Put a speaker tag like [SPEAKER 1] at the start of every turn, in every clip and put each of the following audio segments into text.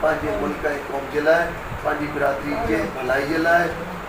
[SPEAKER 1] پنهنجي ملڪ ۽ قوم جي لاء، پنهنجي برادري جي ڀلائي جي لاء،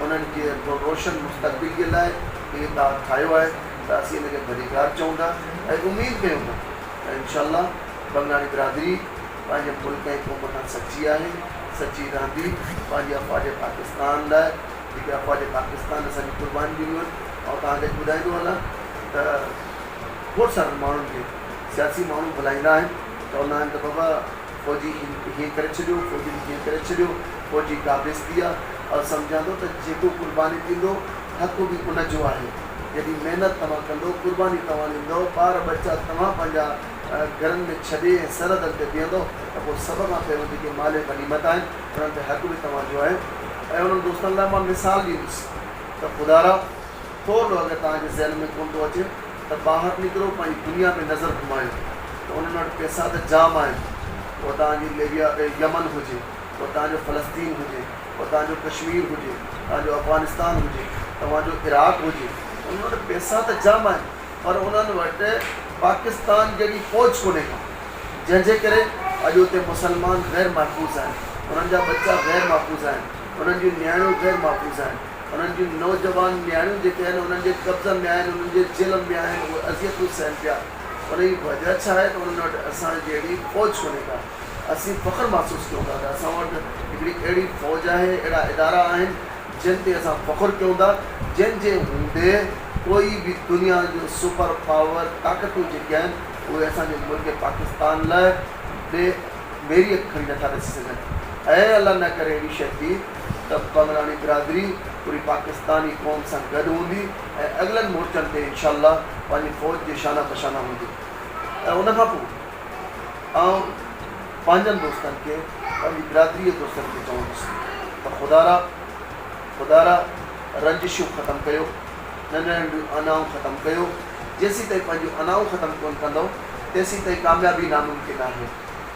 [SPEAKER 1] انهن جي روشن مستقبل جي لاء هي اتحاد ٺاهيو آهي ته اسين ان کي ڀليڪار چئون ٿا ۽ اميد ڪيون ٿا ته انشاء الله بنگلاڻي برادري پنهنجي ملڪ ۽ قوم کان سچي آهي، سچي رهندي، پنهنجي افواج پاڪستان لاء جيڪي افواج پاڪستان اسان جي قربانيون ڏنيون آهن، آئون توهان کي اڄ ٻڌائيندو هلان ته کوڙ سارن ماڻهن کي سياسي ماڻهو ڀلائيندا آهن، چوندا آهن ته بابا. فوجي کي هيئن ڪري ڇڏيو، فوجين کي هيئن ڪري ڇڏيو، فوجي قابض ٿي ويا. آء سمجهان ٿو ته جيڪو قرباني ڏيندو، حق به ان جو آهي. جيڏي محنت توهان ڪندو، قرباني توهان ڏيندؤ، ٻار ٻچا توهان پنهنجا گهرن ۾ ڇڏي ۽ سرحدن تي بيهندؤ ته پوء سڀ کان پهريون جيڪي مال غنيمت آهن، انهن تي حق به توهان جو آهي. ۽ انهن دوستن لاء مان مثال ڏيندس ته خدارا! ٿور ڏو اگر توهان جي ذهن ۾ ڪونه ٿو اچي ته ٻاهر نڪرو پنهنجي دنيا ۾ نظر گهمايو ته انهن وٽ پئسا ته جام آهن اهو توهان جي ليبيا يمن هجي اهو توهان جو فلسطين هجي اهو توهان جو ڪشمير هجي توهان جو افغانستان هجي توهان جو عراق هجي انهن وٽ پئسا ته جام آهن پر انهن وٽ پاڪستان جهڙي فوج ڪونه ڪا جنهن جي ڪري اڄ اتي مسلمان غير محفوظ آهن انهن جا ٻچا غير محفوظ آهن انهن جون نياڻيون غير محفوظ آهن. انهن جون نوجوان نياڻيون جيڪي آهن انهن جي قبضن ۾ آهن، انهن جي جهلم ۾ آهن، اهي اذيتون سهن پيا. ان جي وجهه ڇا آهي ته انهن وٽ اسان جهڙي فوج ڪونهي ڪا. اسين فخر محسوس ڪيون ٿا ته اسان وٽ هڪڙي اهڙي فوج آهي، اهڙا ادارا آهن جن تي اسان فخر ڪيون ٿا، جن جي هوندي ڪوئي به دنيا جو سپر پاور طاقتون جيڪي آهن اهي اسان جي ملڪ پاڪستان لاء بي ميريت کڻي نٿا ڏسي سگهن. اي الله نه ڪري اهڙي شيء ٿئي. ته پنگراڻي برادري پوري پاڪستاني قوم سان گڏ هوندي ۽ اڳلن مورچن تي انشاء الله پنهنجي فوج جي شانه بشانه هوندي ۽ ان کان پوء آئون پنهنجن دوستن کي پنهنجي برادري جي دوستن کي چوندس ته خدارا خدارا رنجشون ختم ڪيو ننڍيون ننڍيون انائون ختم ڪيو جيسين تائين پنهنجون انائون ختم ڪون ڪندؤ تيسين تائين ڪاميابي ناممڪن آهي.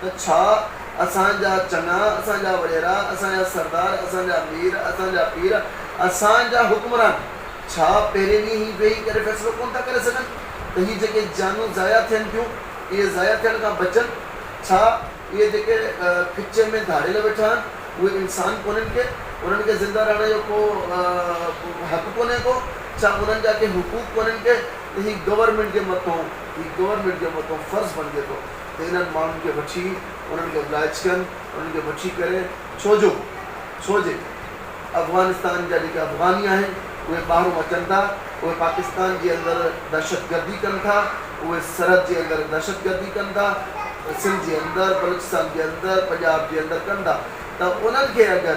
[SPEAKER 1] ته ڇا اسان جا چڱا، اسان جا وڏيرا، اسان جا سردار، اسان جا مير، اسان جا پير، اسان جا حڪمران ڇا پهرين ڏينهن هي ويهي ڪري فيصلو ڪونه ٿا ڪري سگهن ته هي جيڪي جانون ضايع ٿين ٿيون اهي ضايع ٿيڻ کان بچن؟ ڇا اهي جيڪي کچيء ۾ ڌاڙيل ويٺا آهن اهي انسان ڪونهن ڪي؟ انهن کي زنده رهڻ جو ڪو حق ڪونهي ڪو؟ ڇا انهن جا ڪي حقوق ڪونهن ڪي؟ ته هي گورنمينٽ جي مٿئون هي گورنمينٽ جي مٿئون فرض بڻجي ٿو. ته انهن ماڻهن کي وٺي انهن کي ابلائچ ڪن انهن کي وٺي ڪري ڇو جو ڇو جي افغانستان جا جيڪي افغاني آهن اهي ٻاهرون اچن ٿا اهي پاڪستان جي اندر دهشت گردي ڪن ٿا اهي سرحد جي اندر دهشت گردي ڪن ٿا سنڌ جي اندر بلوچستان جي اندر پنجاب جي اندر ڪن ٿا ته انهن کي اگر